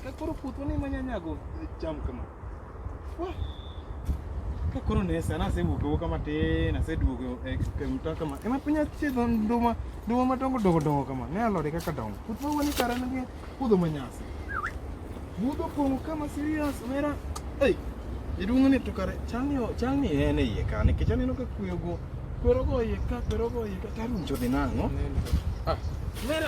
Ka koro puotho ni manya nyago cham kama. Ka koro ne sana asewuok wuok kama tin, aseduogo e kemta kama. Ema piny achiedho nduma, nduma madongo dongo dongo kama. Ne alode kaka dongo. Puoth ma wani kare nigi puodho manyasi. Budho pong'o kama serious mera. Ei, iduong' ni to kare chalni chalni en e iye ka nikech aneno ka kuyo go kwero go iye ka kwero go iye ka tarucho dhi nang'o? Ah, mera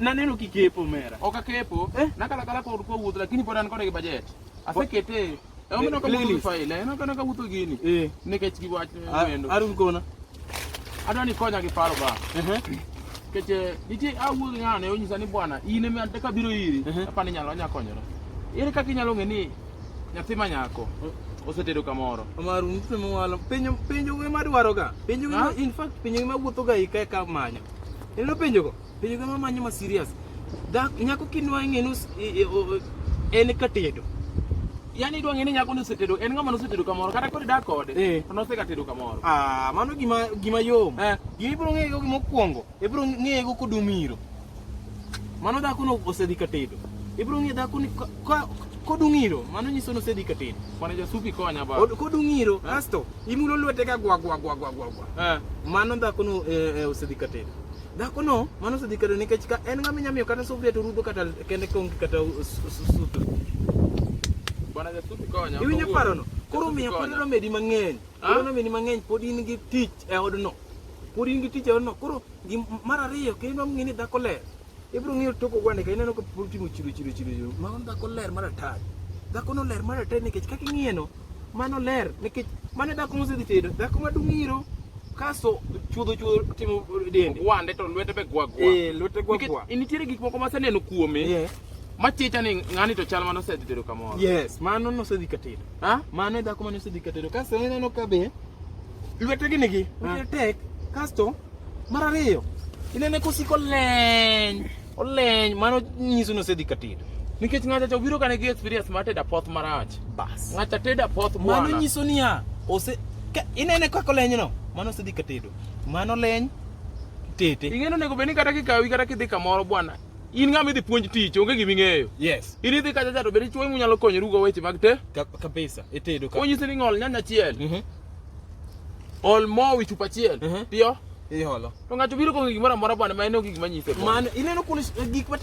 Naneno kikepo mera. Ok akepo. Eh? Nakalakala kod kwa wuoth lakini pod an kode gi budget. Asekete. Omiyo ka wuoth faile, en ka ka wuoth gini. Eh. Nikech gi wach wendo. Arun kona. Adwa ni konya gi paro ba. Eh. Keche eh, nitie awuoth ng'ane onyisa ni bwana in ema ka biro iri. Eh. Apa ni nyalo anya konyora. Ere kaka inyalo ng'e ni nyathi ma nyako osetedo kamoro omar mse mwalo penjo penjo we madwaro ga penjo we in fact penjo we mawuotho ga ika ka manyo ilo penjo go Penjo gama manyo ma serious. Dak nyako kinwa ng'enu en katedo. Yaani idwa ng'eni nyako nosetedo, en ng'ama nosetedo kamoro kata kod dak kode. Eh. To nosega tedo kamoro. Ah, mano gima gima yom. Eh. Gima ibro ng'ego gima okuongo, ibro ng'ego kodumiro. Mano dhako no osedhi katedo. Ibro ng'e dhako ni kodung'iro mano nyiso ni osedhi katin kwana jasupi konya ba kodung'iro eh. asto imulo lwete ka gwa gwa gwa gwa gwa eh. mano dhakono eh, osedhi katin Dhakono mano osedhi kare nikech ka en ng'ama inyamiyo kata sufria to rudo kata kende konge kata sutu. Bwana Yesu konyo. Iwinjo parono? Koro miyo pod nomedi mang'eny. Ah? Pod nomedi mang'eny pod in gi tich e odno. Pod in gi tich e odno. Koro mar ariyo kendo ng'e ni dhako ler. Ibiro ng'iyo toko gwande ka ineno ka pod timo chido chido chido. Mano dhako ler mar atari. Dhako no ler mar atari nikech kaka ing'iyeno Mano ler nikech mane dhako mosedhi tedo, dhako maduong' iro kaso chuodho chuodho timo dende. Wande to lwete be gwa gwa. Eh, lwete gwa gwa. Nikech nitiere gik moko maseneno kuome. Yeah. Machicha ni ng'ani to chal mano osedhi tedo kamoro. Yes, mano nosedhi katedo. Ha? Mano e dhako mano osedhi katedo. Kaso ineno ka be Lwete gini gi, lwete tek. Kasto, mar ariyo, inene kosiko leny. Oleny, mano nyiso nosedhi katedo. Nikech ng'acha cha obiro kane gi experience mar tedo apoth marach. Bas. Ng'acha tedo apoth bwana. Mano nyiso niya, ose inene kaka oleny no, mano osedhi katedo. Mano leny tete. Ing'eno nego beni kata kikawi kata kidhi kamoro bwana. In ng'ama idhi puonj tich, onge gima ing'eyo. Yes. In idhi kacha cha to bende chuo inyalo konyorugo weche mag te. Kabisa, itedo ka. Onyisi ni ng'ol nyanya chiel. Mm -hmm. Ol mo wi chupa achiel. Mhm. Piyo. Iholo. To ng'ato biro kong'o gimoro amora bwana ma en ok gik manyise. Man, ineno kuno s- gik ma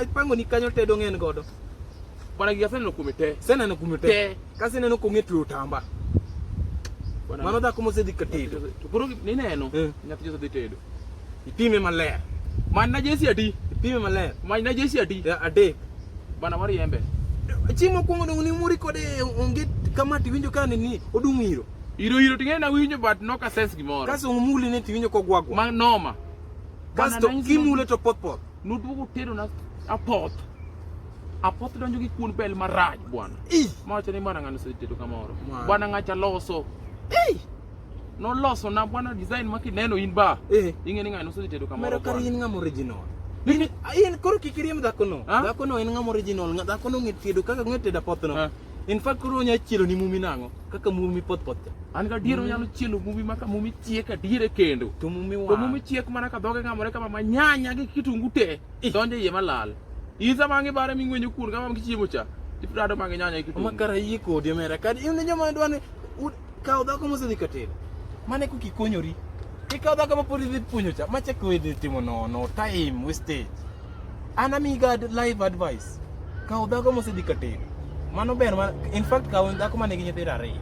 apango ni kanyo tedo ng'en godo. Bwana gik aseneno kuome te. Seneno kume te. Te. Kasi neno kong'e tuyo tamba. Bwana- Mano dhako mosedhi ka tedo. To koro nineno. Eh. Nyathi Jose dhi tedo. Ipime maler. Many na jesi adi? Ipime maler. Many na jesi adi? Ya, Adek. Bana mari embe. Chieng' mokwongo dongo ni muri kode onge kama tiwinjo ka ni ni odung' iro. Iro iro ting'e na winjo but nok a sense gimoro. Kaso omuli ne tiwinjo kogwagwa. Ma noma. Kasto Bana, kimule to poth poth. Nuduogo tero na apoth. Apoth donjo gi kuon bel marach bwana. Ih. Mawacho ni bwana ng'ano osetedo kamoro. Mano. Bwana ng'acha loso. Ei. Noloso na bwana design ma kineno in ba. Eh. Ing'e ni ng'ano osedhi tedo kamoro. Mero kar in ng'ama original. In in koro kik iriem dhako no. Dhako no en ng'ama original. Dhako no ng'e tedo kaka ng'e tedo apoth no. In fact koro onya chielo ni mumi nang'o kaka mumi poth poth. An ga diero nyalo chielo mumi maka mumi chiek ka diere kendo. To mumi wa. To mumi chiek mana ka dhoge ng'amore kama ma nyanya gi kitungu te. Donje yie malal. Iza mangi bare ming'wenyo kuon kama mkichiemo cha. Iprado mangi nyanya gi kitungu. Makara yie kodi mera. Kad in joma dwani Kaw dhako mosedhi katero. Mane kuki kikonyori. Ikaw dhako ma pod idhi puonjo cha. Macha ko idhi timo no no time wastage. An amiga live advice. Kaw dhako mosedhi katero. Mano ber ma in fact kaw dhako mane gi nyithindo ariyo.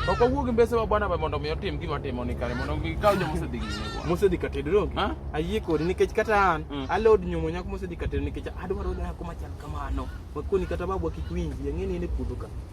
Ok wawuog gi mbese wa bwana ba mondo mi otim gima timo ni kare mondo gikaw jo mosedhi gi nyithindo. Mosedhi katero donge? Ha? Ayie kodi nikech kata an mm. alod nyumo nyako mosedhi katero nikech adwaro dhako machal kamano. Makoni kata babu kik winji, ang'e ni in e puodho ka.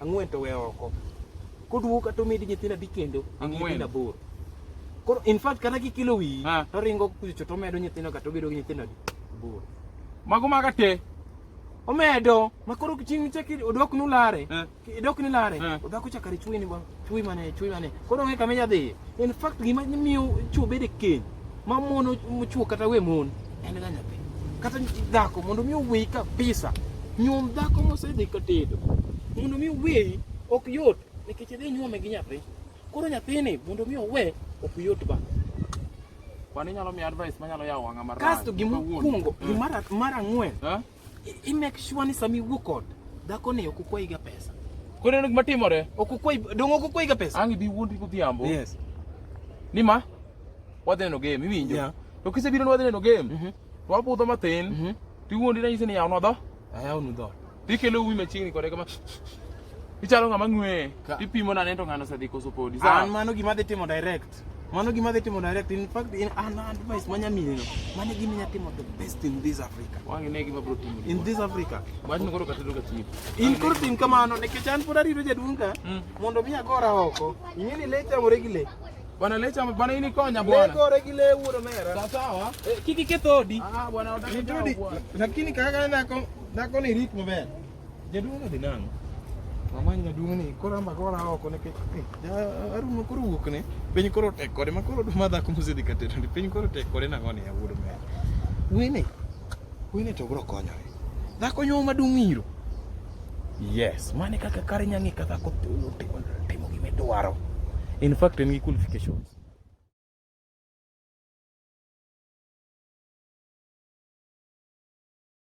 Ang'wen to we oko. Koduogo kata omedi nyithindo adi kendo? Ang'wen. Aboro. Koro in fact kata kikilo wiyi ah. to ringo kucho to omedo nyithindo kata obedo gi nyithindo adi? Aboro. Mago maga te. Omedo makoro kiching cheki odok nulare. Eh. Idok nilare. Eh. Odhako chakari chwe ni bang. Chwe mane chwe mane. Koro ng'e kama jadhi. In fact gima miyo chwo bedo keny. Mamono chwo kata we mon. En ga nyathi. Kata dhako mondo mi owei kabisa. Nyuom dhako mosedhi ka tedo. Mondo mi owei ok yot nikech idhi nyuome gi nyathi. Koro nyathini mondo mi owe ok yot ba. Kwani nyalo mi advice manyalo yawo wang'a mar. Kasto gimokuongo, gimara mara ng'wen. Eh? I make sure ni sami wuok kod dhako ni ok ukwayi ga pesa. Koro en gima timore. Ok ukwayi dong ok ukwayi ga pesa. Ang' ibi wuondi godhiambo. Yes. Ni ma wadhi neno game iwinjo. Yeah. To kisebiro ni wadhi neno game. Mm -hmm. To wabudho mathin. Mm -hmm. To iwuondi na nyise ni yawnwa dho. Ayawnwa dho. To ikelo uwi machiegni kode kama. Ichalo ng'ama ng'we. Tipimo na nento ng'ano osedhi koso podi. An mano gima dhi timo direct. Mano gima dhi timo direct. In fact, in an advice manya miyo no. Mane gima nya timo the best in this Africa. Wangi ne gima bro timo. In this Africa. Wach no koro katelo ka timo. In koro tim kamano ne kechan pod arito jaduong ka. Hmm. Mondo mi agora oko. Ingeni le chamore gi le. Bwana lecha bwana ini konya bwana. Lego regile wuro mera. Sawa sawa. Eh, kiki ketodi. Ah bwana, lakini kaka nako nako ni ritmo bwana. Jaduong' odhi nang'o? Mamany jaduong' ni koro amba koro awo kone ke. Eh, Arun ma koro wuok ne. Piny koro tek kode ma koro duma dhako mose dhi kateto. Piny koro tek kode nang'o ni awuodo me. Wene. Wene to bro konyore. Dhako nyo madung' iro. Yes, mane kaka kare nyangi kaka ko timo timo gimedwaro. In fact, en gi qualifications.